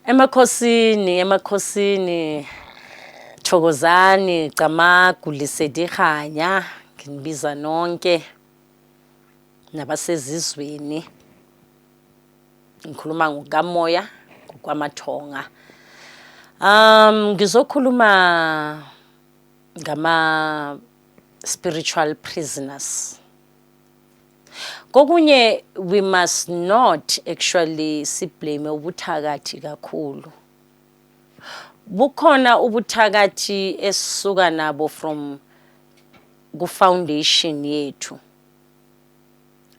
Emakhosini, emakhosini. Thokozani, Camagu, Lisedi Khanya, nginibiza nonke nabasezizweni. Ngikhuluma ngokamoya, ngokwamathonga. Um ngizokhuluma ngama spiritual prisoners. Kokunye we must not actually siblame ubuthakathi kakhulu. Bukhona ubuthakathi esisuka nabo from ku foundation yethu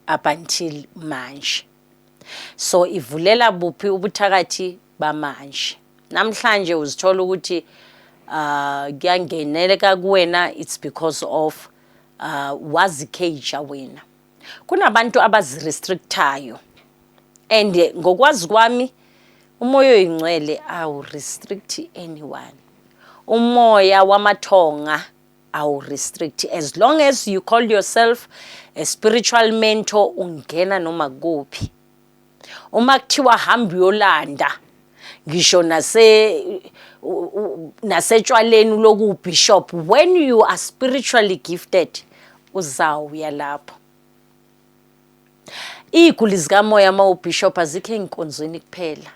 up until manje. So ivulela buphi ubuthakathi bamanje. Namhlanje uzithola ukuthi uh kuyangeneleka kuwena it's because of Ah, wazicager wena. Kunabantu abazirestrictayo. And eh, ngokwazi kwami umoya oyingcwele awu restrict anyone. Umoya wamathonga awu restrict as long as you call yourself a spiritual mentor ungena noma kuphi. uma kuthiwa hamba uyolanda ngisho nase nasetshwaleni loku bishop when you are spiritually gifted uzawuya lapho iy'guli zikamoya uma ubishop azikho ey'nkonzweni kuphela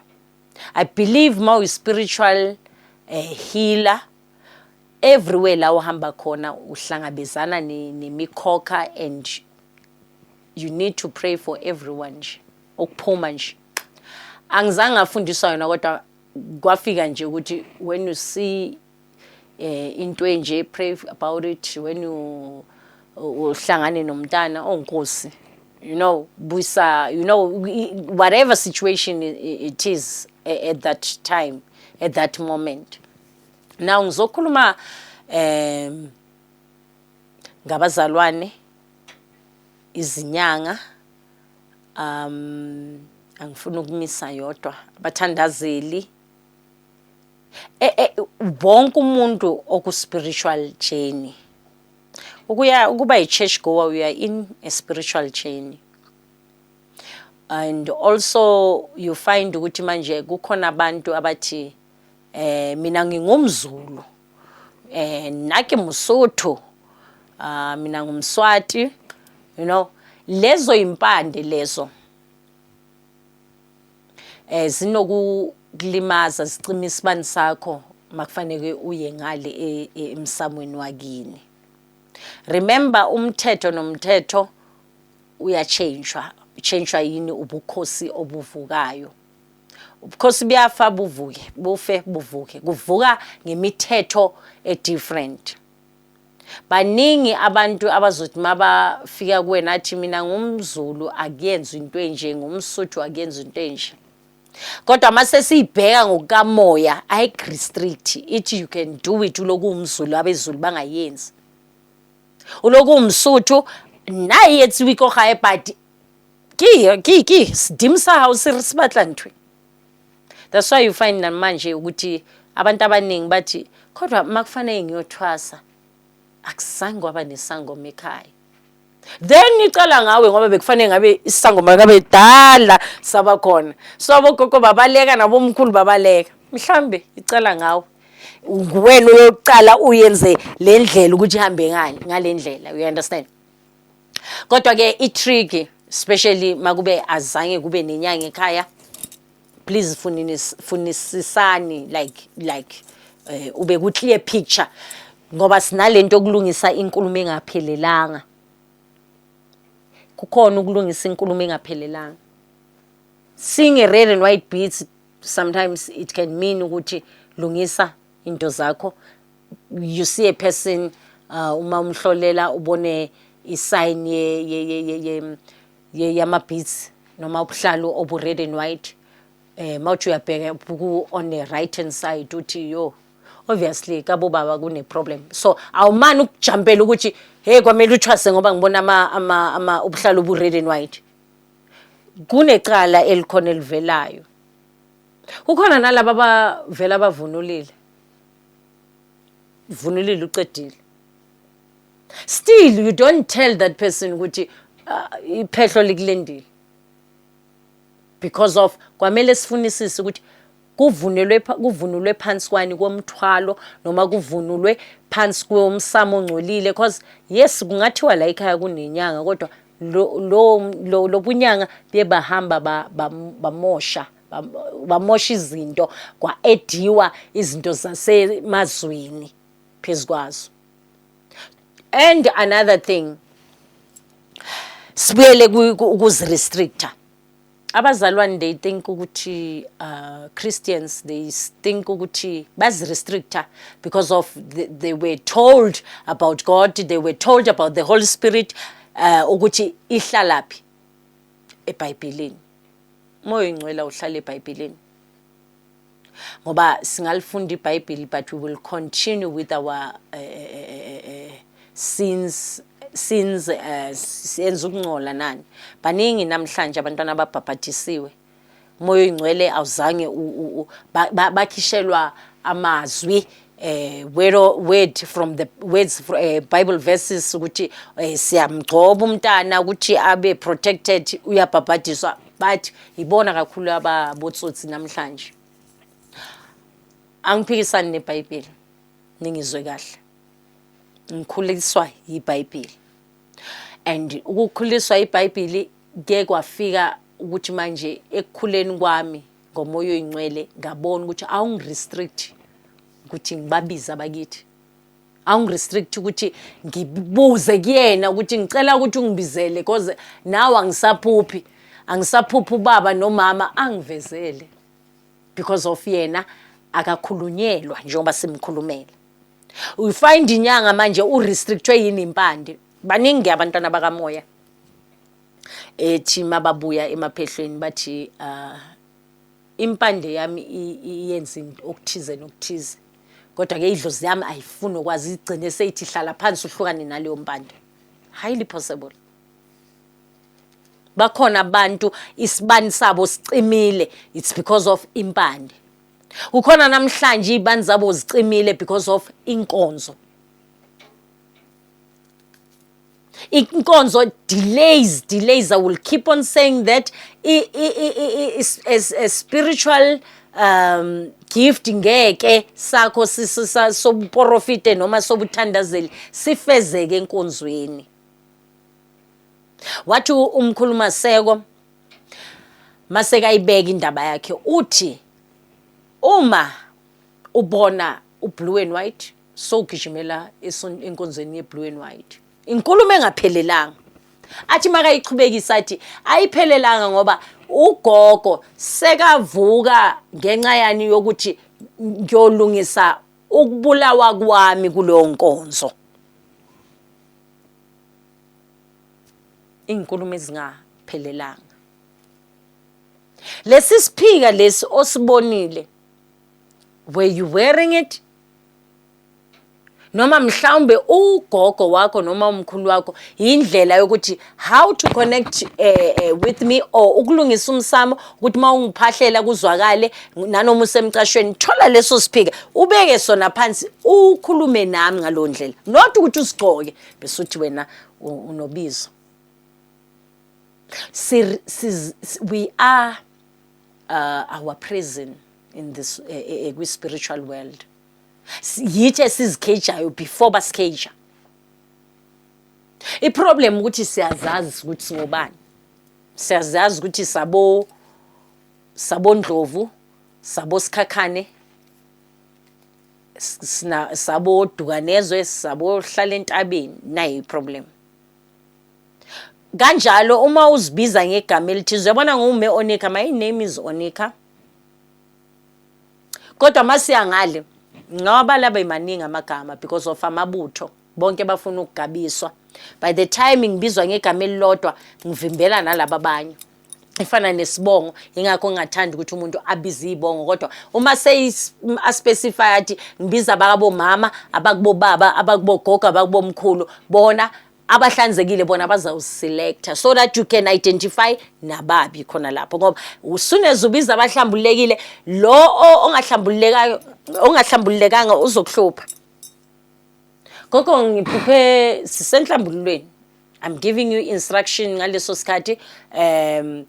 i believe uma uyi-spiritual eh, healer everywhere la uhamba khona uhlangabezana nemikhokha and you need to pray for everyone nje ukuphuma nje angizange ngafundiswa yona kodwa kwafika nje ukuthi when you see eh into enje pray about it when you uhlangane nomntana onkosi you know busa you know whatever situation it is at that time at that moment now ngizokhuluma um ngabazalwane izinyanga um angifuni ukumisa yodwa abathandazeli e, e, wonke umuntu okuspiritual journey ukuya ukuba yi-church goer uya in a spiritual journey and also you find ukuthi manje kukhona abantu abathi Eh mina ngingumzulu. Eh nake musotho. Ah mina ngumswati. You know lezo impande lezo eh zinokulimaza zicima isibani sakho makufanele uye ngale e, e, emsamweni wakini remember umthetho nomthetho uyachangwa uchangwa yini ubukhosi obuvukayo ubukhosi buyafa buvuke bufe buvuke kuvuka ngemithetho edifferent baningi abantu abazothi mabafika kuwena athi mina ngumzulu akuyenzi into enje ngumsuthu akuyenzi into enje kodwa uma sesiyibheka ngokukamoya ayirestrict ithi you can do it uloku umzulu abezulu bangayenzi uloku umsuthu naye yethiwa ikohaye but ke ke ke sidimu sahawu sibatla ntwi that's why you find namanje ukuthi abantu abaningi bathi kodwa makufanele ngiyothwasa akuzange waba nesangoma ekhaya then icala ngawe ngoba bekufanele ngabe isangoma kabe dala saba khona so abogogo babaleka nabomkhulu babaleka mhlambe icala ngawe nguwena uyoqala uyenze le ndlela ukuthi ihambe ngani ngale ndlela you understand kodwa ke i trick especially makube azange kube nenyanga ekhaya please funinis funisisani like like eh, ube ku clear picture ngoba sinalento yokulungisa inkulumo engaphelelanga kukhona ukulungisa inkulumo engaphelelanga sing a red and white beats sometimes it can mean ukuthi lungisa into zakho you see a person uh, uma umhlolela ubone isign ye ye ye ye, ye, ye yama beats noma ubuhlalu obu red and white eh mawuthi uyabheka ku on the right hand side uthi yo obviously kabo baba kune problem so awumani ukujampela ukuthi hey kwamele uthwase ngoba ngibona ama ama, ama ubuhlalu obu red and white kunecala elikhona elivelayo Kukhona nalaba abavela abavunulile. Vunulile ucedile. Still you don't tell that person ukuthi ah, iphehlo likulendile. Because of kwamele sifunisise ukuthi kuvunelwe kuvunulwe phansi kwani komthwalo noma kuvunulwe phansi komsamo ongcolile because yes kungathiwa la ekhaya kunenyanga kodwa lobunyanga bye bahamba bamosha bamosha izinto kwa-ediwa izinto zasemazweni phezu kwazo and another thing sibuyele ukuzirestricta abazalwane they think ukuthi uh, christians they think ukuthi bazirestricta because of the, they were told about god they were told about the holy spirit uh, ukuthi ihlalaphi ebhayibhilini moya ingcwela uhlala ebhayibhilini ngoba singalifunda ibhayibhili but we will continue with our uh, uh, sins sins uh, senza ukuncola nani baningi namhlanje abantwana ababhabhadisiwe umoya oyingcwele awuzange bakhishelwa amazwi eh word word from the words uh, bible verses ukuthi eh, siyamgcoba umntana ukuthi abe protected uyabhabhadiswa but ibona kakhulu ababotsotsi namhlanje angiphikisani nebhayibheli ningizwe kahle ngikhuliswa yibhayibheli and ukukhuliswa ibhayibheli ke kwafika ukuthi manje ekukhuleni kwami ngomoya oyingcwele ngabona ukuthi awungirestrict ukuthi ngibabize abakithi awungirestrict ukuthi ngibuze kuyena ukuthi ngicela ukuthi ungibizele because nawe angisaphuphi angisaphuphi ubaba nomama angivezele because of yena akakhulunyelwa njengoba simkhulumela uyifind inyanga manje urestrictwe yini impande baningi abantwana bakamoya ethi mababuya emaphehlweni bathi uh, impande yami iyenza okuthize nokuthize kodwa ke idlozi yami ayifuni okwazi igcine seyithi hlala phansi uhlukane naleyo mpande highly possible bakhona abantu isibani sabo sicimile it's because of impande kukhona namhlanje izibani zabo zicimile because of inkonzo inkonzo delays delays i will keep on saying that a spiritual um gift ngeke sakho sobuporofite noma sobuthandazeli sifezeke enkonzweni wathi umkhuluma seko maseka ibeka indaba yakhe uthi uma ubona ublue and white sogijimela eson- enkonzweni yeblue and white inkulumo engaphelelanga athi makayichubekisa athi ayiphelelanga ngoba ugogo sekavuka ngenxa yani yokuthi ngiyolungisa ukubulawa kwami kuleyo nkonzo iy'nkulumo ezingaphelelanga lesi siphika lesi osibonile were you wearing it noma mhlawumbe ugogo wakho noma umkhulu wakho yindlela yokuthi how to connect uh, uh, with me or ukulungisa umsamo ukuthi uma ungiphahlela kuzwakale nanoma usemcashweni thola leso siphika ubeke sona phansi ukhulume nami ngalo ndlela not ukuthi usigcoke bese uthi wena unobizo si, si, we are uh, our prison in this uh, eh, eh, kwi-spiritual world yithi esizikhejayo before basikheja iproblem ukuthi siyazazi ukuthi singobani siyazazi ukuthi sabo sabondlovu sabo sikhakhane sabo dukanezwe sabo hlala entabeni nayi problem kanjalo uma uzibiza ngegama elithize uyabona ngume onika my name is onika kodwa masiya ngale ngoba laba imaningi amagama because of amabutho bonke bafuna ukugabiswa by the time ngibizwa ngegama elilodwa ngivimbela nalaba abanye ifana nesibongo ingakho ngingathanda ukuthi umuntu abize izibongo kodwa uma seyispecify athi ngibiza abakabo mama abakubo baba abakubo gogo abakubo mkhulu bona abahlanzekile bona bazawuselector so that you can identify nababi khona lapho ngoba usuneze ubiza abahlambululekile lo ongahlambululekayo ongahlambululekanga uzokuhlupha gogo ngiphuphe sisenhlambululweni I'm giving you instruction ngaleso sikhathi um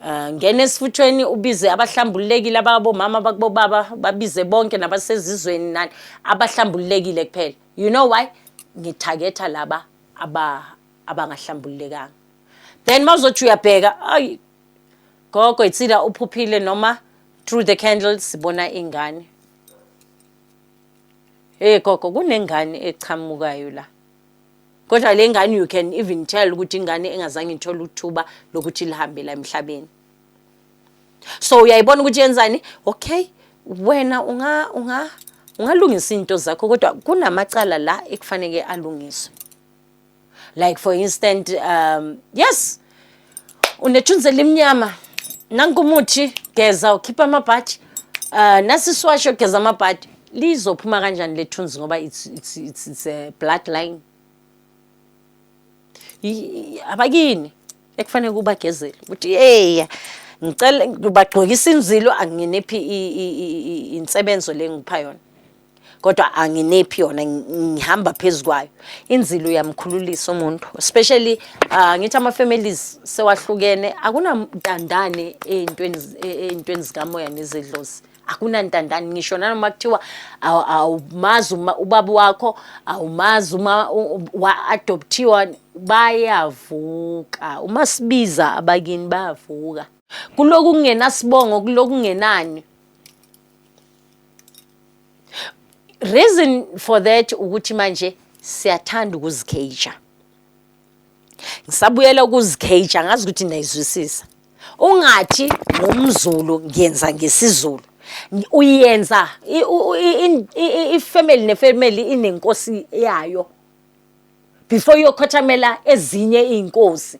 eh, ngena esifuthweni ubize abahlambululekile ababomama bakubobaba babize bonke nabasezizweni nani abahlambululekile kuphela you know why ngithagetha laba aba abangahlambululekanga then mawuzothi uyabheka ayi gogo itsida uphuphile noma through the candles sibona ingane hey gogo kunengane echamukayo la Kodwa le ngane you can even tell ukuthi ingane engazange ithole uthuba lokuthi lihambe la emhlabeni. So uyayibona ukuthi yenzani? Okay, wena unga unga ungalungisa izinto zakho kodwa kunamacala la ekufanele alungiswe. Like for instance um yes unethunzi elimnyama nanku umuthi geza ukhipha amabhaji um ah, nasi isiwasho geza amabhadi lizophuma kanjani lethunzi ngoba it's, it's, it's, it's a blood line abakini ekufanele kubagezele ukuthi yeya ngicela ngibagqokisa inzilo anginiphi insebenzo le ngipha yona kodwa anginephi yona ngihamba phezu kwayo inzilo uyamkhululisa umuntu especially uh, ngithi ama-families sewahlukene akunantandane ey'ntweni ey'ntweni zikamoya nezedlozi akunantandane ngisho nanoma kuthiwa awumazi ubaba wakho awumazi uma wa-adopthiwa bayavuka uma sibiza abakini bayavuka kuloku kungenasibongo kuloku kungenani reason for that ukuthi manje siyathanda ukuzikheja ngisabuyela ukuzikheja ngazi ukuthi nayizwisisa ungathi ngumzulu ngiyenza ngesizulu uyenza ifamily nefamily inenkosi yayo before yokhothamela ezinye izinkosi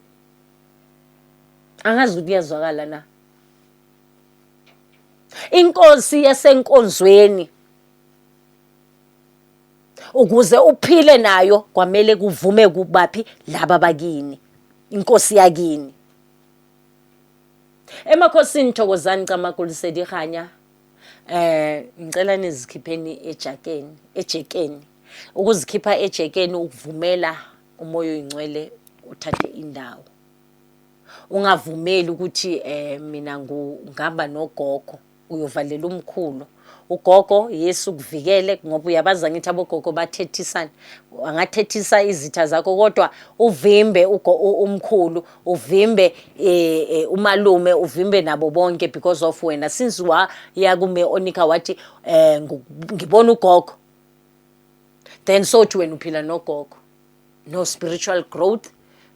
angazi ukuthi kuyazwakala na inkosi yasenkonzweni ukuze uphile nayo kwamele kuvume kubaphi laba bakini inkosi yakini emakhosini thokozani camagulisedirhanya eh ngicela nizikhipheni ejakeni ejekeni ukuzikhipha ejekeni ukuvumela umoya oyingcwele uthathe indawo Ungavumeli ukuthi eh mina ngu ngihamba nogogo uyovalela umkhulu. Ugogo Yesu ukuvikele ngoba uyabazi angithi abogogo bathethisana. Angathethisa izitha zakho kodwa uvimbe ugo u- umkhulu, uvimbe eh, eh, umalume, uvimbe nabo bonke because of wena. Since waya kume onika wathi eh ngu- ngibona ugogo. Then sothi wena uphila nogogo. no spiritual growth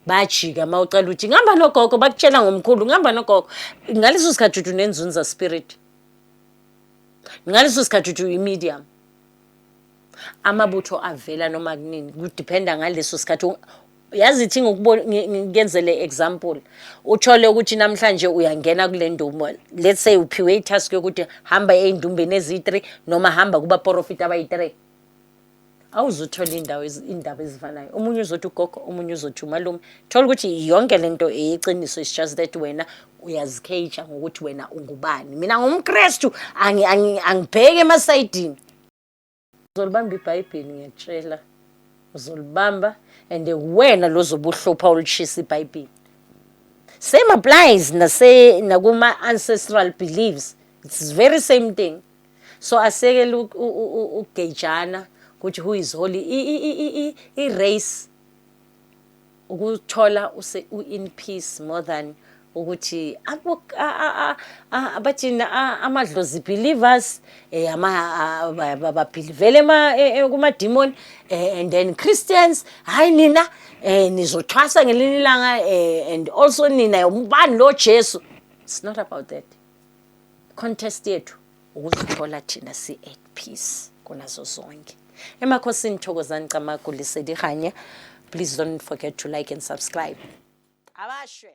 bajika uma ucela ukuthi ngihamba nogogo bakutshela ngomkhulu ngihamba nogogo ngaleso sikhathi uthi unenzunza spirit ngaleso sikhathi uthi uyi-medium amabutho avela noma kunini kudiphenda ngaleso sikhathi yazi ithi ngikenzele example uthole ukuthi namhlanje uyangena kule ndumba let's say uphiwe i-task yokuthi hamba ey'ndumbeni eziyi-three noma hamba kubaporofiti abayi-three awuzuthole indawo indaba ezifanayo omunye uzothi ugogo omunye uzothi umalume thola ukuthi yonke lento eyiqiniso is just that wena uyazikheyitsha ngokuthi wena ungubani mina ngumkrestu angibheke emasayidini uzolibamba ibhayibheli ngiyatshela uzolibamba and wena lozobuhlupha olushisa ibhayibheli same applies nase nakuma ancestral beliefs it's very same thing so asekele ukugejana ukuthi who is holy i-race ukuthola u-in peace more than ukuthi abathina amadlozi believers eh, um babhilivele e, e, kumadimoni eh, and then christians hhayi nina um nizothwasa ngelinye ilanga and also nina ubani lo jesu it's not about that contest yethu ukuzithola thina si at peace kunazo zonke emakhosini thokozani camagu lisedihanye please don't forget to like and subscribe abashwe